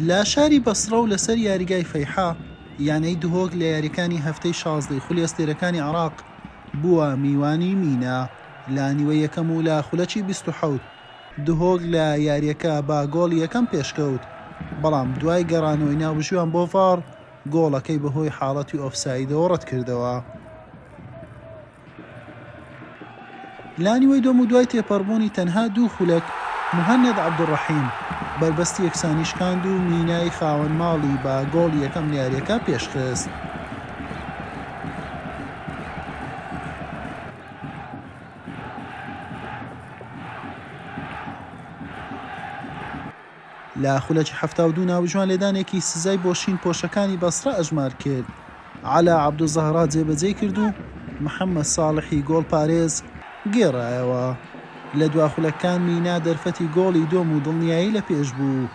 لە شاری بەسڕە و لەسەر یاریگای فەیحا، یانەی دهۆک لە یاریەکانی هەفتەی شازدەی خولی ئەستێرەکانی عێراق بووە میوانی مینا لە نیوەی یەکەم و لە خولەکی بیست و حەوت دهۆک لە یاریەکە بە گۆڵی یەکەم پێشکەوت، بەڵام دوای گەڕانەوەی ناوبژیوان بۆ ڤاڕ، گۆڵەکەی بەهۆی حاڵەتی ئۆفسایدەوە ڕەتکردەوە. لانیوەی دومودوای تێپەڕبوونی تەنها دوو خولەک، موهەنەد عەبدولڕەحیم بەربەستی یەکسانی شکاند و مینای خاوەن ماڵی بە گۆڵی یەکەم لە یارییەکە پێشخست. لە خولەکی حەفتا و دوو ناوجوان لێدانێکی سزای بۆ شین پۆشەکانی بەسڕە ئەژمار کرد، عەلا عەبدولزەهرا جێبەجێی کرد و محەمەد ساڵحی گۆڵپارێز گێڕایەوە. لە دوا خولەککان مینا دەرفەتی گۆڵی دۆم و دڵنیایی لە پێش بوو،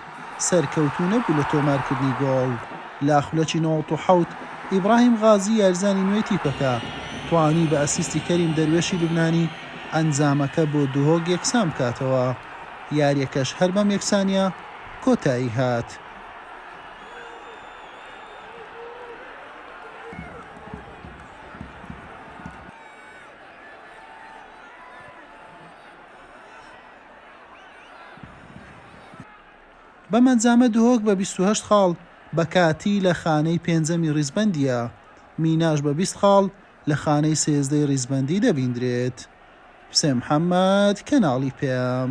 سەرکەوتوو نەبوو لە تۆمارکردنی گۆڵ. لە خولەکی نۆزدە و حەوت ئیبراهیم غازی یاریزانی نوێی تیپەکە، توانی بە ئەسیستی کەریم دەروێشی لوبنانی ئەنجامەکە بۆ دهۆک یەکسان بکاتەوە. یاریەکەش هەر بەم یەکسانیە کۆتایی هات. بەم ئەنجامە دهۆک بە بیست و هەشت خاڵ بە کاتی لە خانەی پێنجەمی ڕیزبەندییە، میناش بە بیست خاڵ لە خانەی سێزدەی ڕیزبەندی دەبیندرێت. حوسێن محەمەد، کەناڵی پێم.